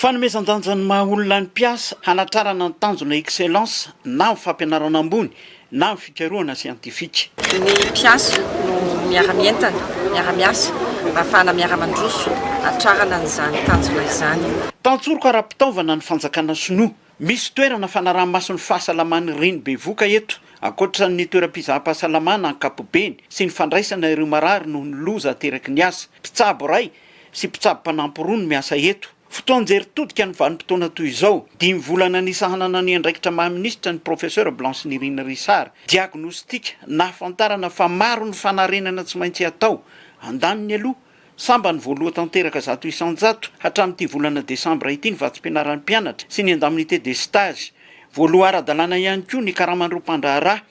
Fanomezan-danja ny maha olona ny mpiasa hanatrarana ny tanjona excellence na amin'ny fampianarana ambony na amin'ny fikarohana siantifika. Ny mpiasa no miara-mientana, miara-miasa ahafahana miara-mandroso hatrarana an'izany tanjona izany. Tantsoroka ara-pitaovana ny fanjakana sinoa Misy toerana fanaraha-maso ny fahasalaman'ny reny bevoka eto, ankoatra ny toeram-pizaham-pahasalamana ankapobeny sy ny fandraisana ireo marary noho ny loza ateraky ny asa. Mpitsabo iray sy mpitsabo mpanampy roa no miasa eto. Fotoan-jery todika ny vanim-potoana toy izao. Dimy volana nisahanana ny andraikitra maha minisitra ny Professeur Blanche Nirina Richard. Diagnostika, nahafantarana fa maro ny fanarenana tsy maintsy atao. Andaniny aloha. Sambany voaloha tanteraka zato isan-jato hatramin'ity volana desambra ity ny vatsim-pianaran'ny mpianatra sy ny indemnité de stage. Voaloha ara-dalàna ihany koa ny karaman'ireo mpandraharaha.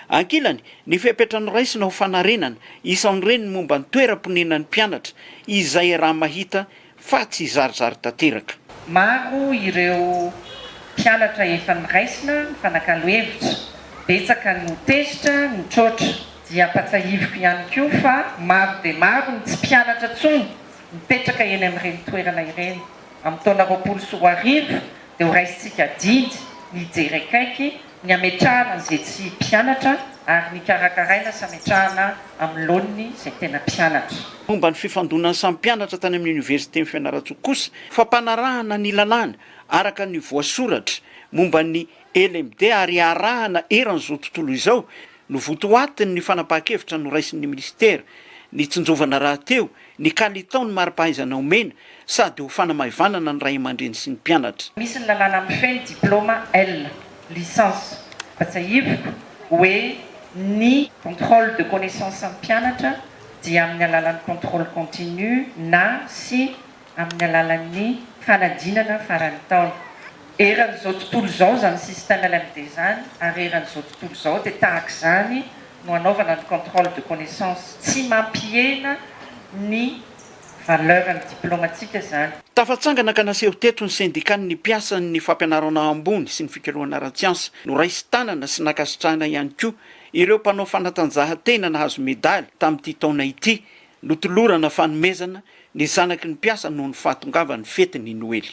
Ankilany, ny fepetra noraisina ho fanarenana, isan'ireny ny momba ny toeram-ponenan'ny mpianatra, izay raha mahita fa tsy zarizary tanteraka. Maro ireo mpianatra efa niraisina nifanakalo hevitra, betsaka no tezitra, nitroatra. dia ampatsahiviko ihany koa fa maro dia maro ny tsy mpianatra intsony mipetraka eny amin'ireny toerana ireny. Amin'ny taona roapolo sy roa arivo dia ho raisintsika didy ny hijery akaiky ny hametrahana izay tsy mpianatra ary ny karakaraina sy hametrahana amin'ny laoniny izay tena mpianatra. Momba ny fifandonan'ny samy mpianatra tany amin'ny Oniversiten'i Fianarantsoa kosa, fampanarahana ny lalàna araka ny voasoratra momba ny LMD ary iarahana eran'izao tontolo izao Novotoatiny ny fanapahan-kevitra noraisin'ny minisitera nitsinjovana rahateo ny kalitao ny mari-pahaizana omena sady ho fanamaivanana ny ray aman-dreny sy ny mpianatra. Misy ny lalàna hampifehy ny diplaoma L, licence, fa tsiahiviko hoe ny. Contrôle de connaissance am-pianatra dia amin'ny alalan'ny contrôle continu na sy amin'ny alalan'ny fanadinana faran'ny taona. Eran'izao tontolo izao izany système LMD izany ary eran'izao tontolo izao dia tahaka izany no hanaovana ny contrôle de connaissance. Tsy mampihena ny valeuran'ny diplaomantsika izany. Tafatsangana ka naseho teto ny sendikan'ny mpiasan'ny fampianarana ambony sy ny fikarohana ara-tsiansa. Noraisin tanana sy nankasitrahana ihany koa ireo mpanao fanatanjahantena nahazo medaly tamin'ity taona ity Notolorana fanomezana ny zanaky ny mpiasa noho ny fahatongavan'ny fetin'ny Noely.